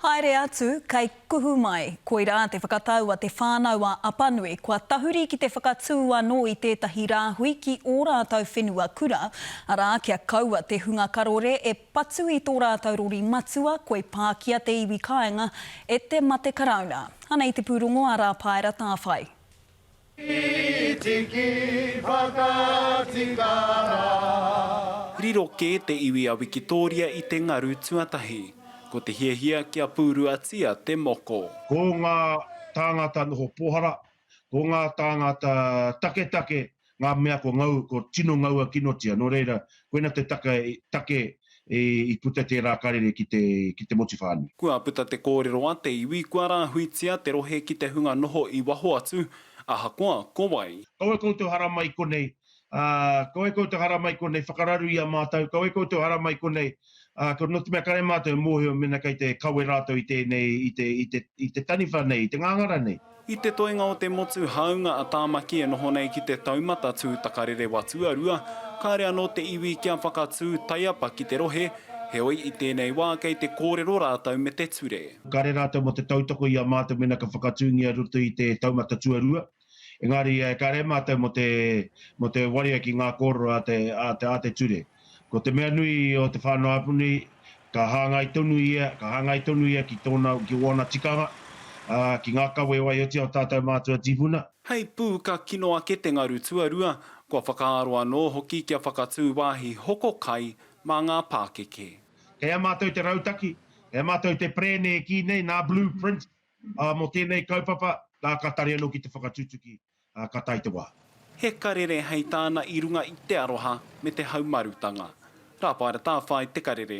Haere atu, kei kuhu mai. Koirā te whakatau a Te Whānau-a-Apanui, kua tahuri ki te whakatū anō i tētahi rāhui ki ō rātou whenua kura, arā, kia kaua te hunga karore e patu i tō rātou rori matua, koi pākia te iwi kāinga e te mate Karauna. Anei te pūrongo a Rāpaera Tāwhai. Tiki whakatika rā. Riro kē te iwi a Wikitōria i te ngaru tuatahi. Ko te hiahia kia pūruatia te moko. Ko ngā tāngata noho pōhara, ko ngā tāngata taketake ngā mea ko ngau, ko tino ngaua kinotia, nō reira, koina te taka, take i puta tērā karere ki te, ki te motu whānui. Kua puta te kōrero a te iwi kua rāhuitia te rohe ki te hunga noho i waho atu, ahakoa ko wai. Kaua koutou haramai konei, ā, kaua koutou haramai konei, whakararu i a mātou, kaua koutou haramai konei, Ā, ko, nō te mea kare mātou e mōhio mēnā kei te kawe rātou i tēnei, i te, i te, i te taniwha nei, i te ngāngara nei. I te toenga o te motu hāunga a Tāmaki e noho nei ki te taumata tū takarere wa tuarua, kāre anō te iwi kia whakatū taiapa ki te rohe, heoi i tēnei wā kei te kōrero rātou me te ture. Kare rātou mō te tautoko i a mātou mēnā ka whakatūngia roto i te taumata tuarua, Engari, ka rere mātou mō te, mō te waria ki ngā kōrero a te, a te, a te ture. Ko te mea nui o te whānau apu nei, ka hāngai tonu ia, ka hāngai tonu ia ki tōna, ki wōna tikanga, ā, ki ngā kawe e waihotia o tātou mātua tīpuna. Hei pū ka kino ake te ngaru tuarua, kua whakaaro anō hoki kia whakatū wāhi hoko kai mā ngā pākeke. Kei a mātou te rautaki, kei a mātou te perēne e kī nei nā Blueprint Ā, mō tēnei kaupapa, nā, ka tari anō ki te whakatutuki, ā, ka tae te wā. He karere hei tāna i runga i te aroha me te haumarutanga. Rāpaera Tāwhai te karere.